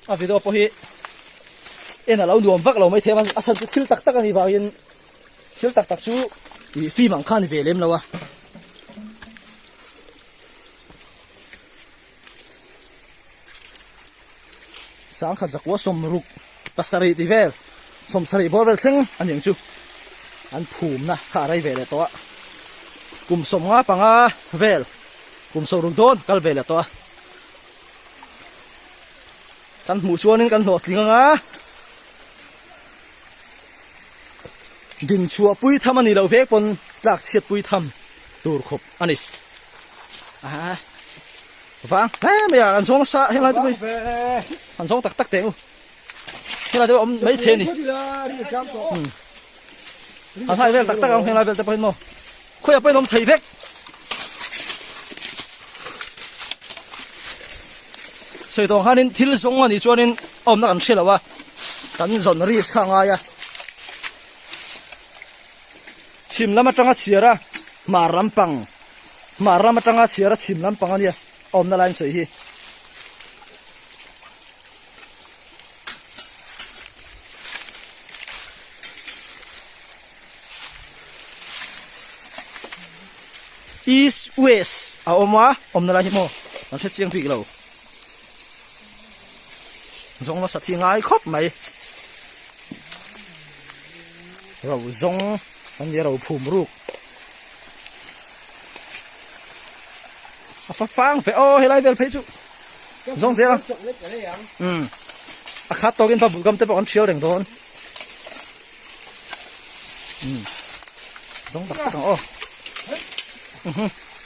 a video pawh hi en alo nuam vak lo mai thema a san chu thil tak tak ani vangin thil tak tak chu i film ang khan ve lem lo a sangkhat zakua sawmruk pasarih tih vel sawmsarih bawr vel thleng a ni ang chu an phumna kha a rei ve leh tawh a kum sawmnga panga vel kum sawmruk dawn kal ve leh tawh a kan hmuh chuanin kan hlawhtling anga dinchhuah pui tham a nih loh vek pawn tlak chhiat pui tham tur khawp. a ni aa vang hle mai a an zawng sa helai te pawh an zawng tak tak teh u helai te pawh awm mai the ni a hlai vel tak tak ang helai vel te pawh hin mo khawi a pawhin awm thei vek soi tawng khanin thil zawng a nih chuanin awmna kan hre lo a kan zawn risk kha ngai a chhim lam atanga chhiara hmar ram pang hmar ram atanga chhiara chhim lam pang ania awmna lai sawi hi east west a awma awmna lai hi mo an hre chiang bik lo zawng la sa chi ngai khawp mai ro zawng kan nih ro phum ruk a fa fang fe o helai vel phei chu zawng zel ang um a khat tawkin pa bul gam te pawh kan thial reng dawn um zawng tak tak ang aw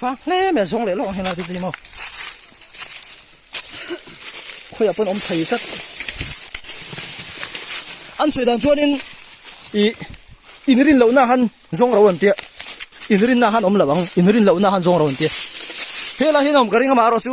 vang hle me zong leh lawng hena titi mo khoya pun om thei chat an sui dan chuan in i in rin lo na han zong ro an tia in rin na han om lo ang in rin lo na han zong ro an tia hela hin om ka ring ama ro chu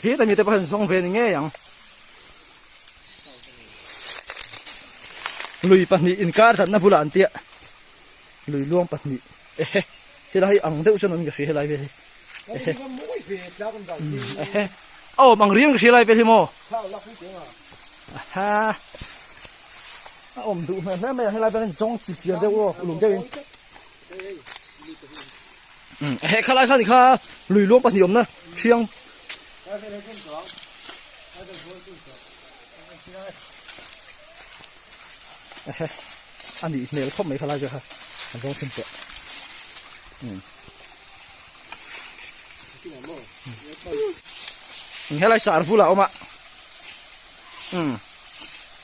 khi ta mi te pahin zong ve ni nge yang lui pahnih in kar dan na bula an tia lui luang pahnih e he he lai ang deuh chen an ka hri he lai ve hi e he e he oh mang riang ka hri lai ve hi mo ha a om du hna hna mai he lai ve zong chi chi deuh lo uluk deuh in he kha lai kha ni kha lui luang pahnih awmna thiang ehe ani hmel khawp mai kha lai ve kha an zawng sin teh helai sar vula oma um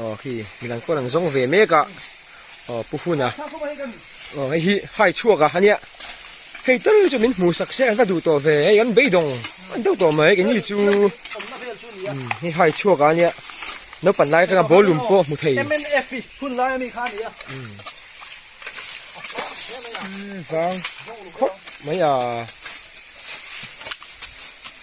aw khi midan pawh an zawng ve mek a aw pu huna aw hei hi hai chhuak a ania hei tal chu min hmuh sak se an va duh tawh ve hei an beidawng an deuh tawh mai keng hi chu hei hai chhuak a nia naupang lai atanga ballroom pawh hmu thei vang khawp mai a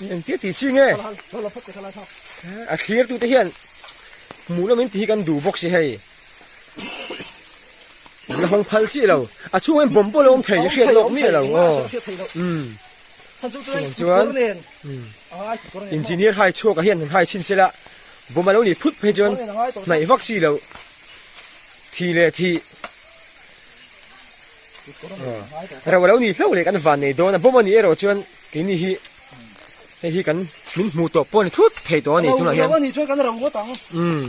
Ni ang tia ti chi nge. A thlir tu te hian mu lo min ti kan du bok si hei. La hong phal chi lo. A chu ngai bom bo lo om thei hriat lok mi lo. Um. San chu tu ngai chuan. Engineer hai chua ka hian hai chin sela. Bom lo ni phut phei chuan. Nai vak chi lo. Thi le thi. reuh a lo nih hlauh leh kan van nei dawn a bawm a nih erawh chuan keini hi hei hi kan min hmuh tawh pawh a ni thut thei tawh a ni tunah hian umm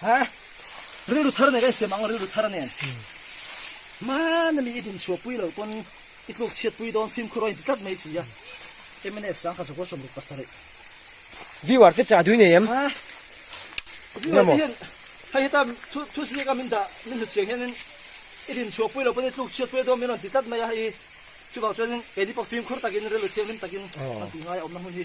Ha, rilru thar nen ka insiam ang, rilru thar nen. Hmana mi i hlim chhuah pui lo pawn i tluk chhiat pui dawn, fimkhur aw inti tlat mai si a. Mnf sang kha chawhpawlh sawmruk pasarih. Viewer te chah dui nei em? Ha, viewer te hian hei heta thu ziak a min dah min hlut chiang hianin i hlim chhuah pui lo pawn i tluk chhiat pui dawn min rawn ti tlat mai a, hei hi chuvang chuanin keini pawh fimkhur takin rilru thianghlim takin rawn ti ngai a awmna hmun hi.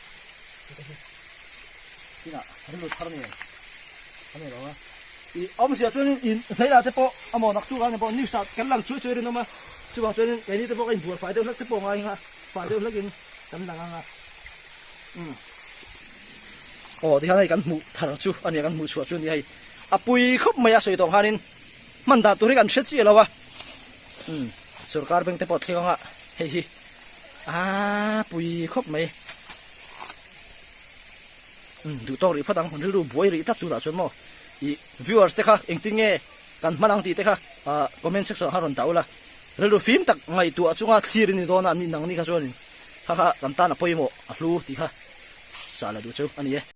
Ina, rin lo thar nen. Ani lo a. I om sia chuan in zaila te pawh amo nak tu ang pawh news a kan lang chuai chuai rin awma chuwang chuan in keini te pawh in bual fai deuh hlek te pawh ngai nga fai deuh hlek in kan lang anga um aw ti hian hei kan hmuh thar chu ania kan hmuh chhuah chu nia hei a pui khawp mai a sawi tawng hanin man dan tur hi kan hre chiah lo a um sorkar bank te pawh thleng anga hei hi Aa pui khawp mai. Um duh tawk rih phawt ang hun rilru buai rih tlat tunah chuan maw i viewers te kha engtin nge kan hman ang tih te kha ah comment section ah kha rawn tah ula rilru fim tak ngaihtuah a chunga thlir i ni dawn a ni nang ni kha chuan in kha kha kan tan a pawimawh a hlu tih kha sah la duh chu a ni e.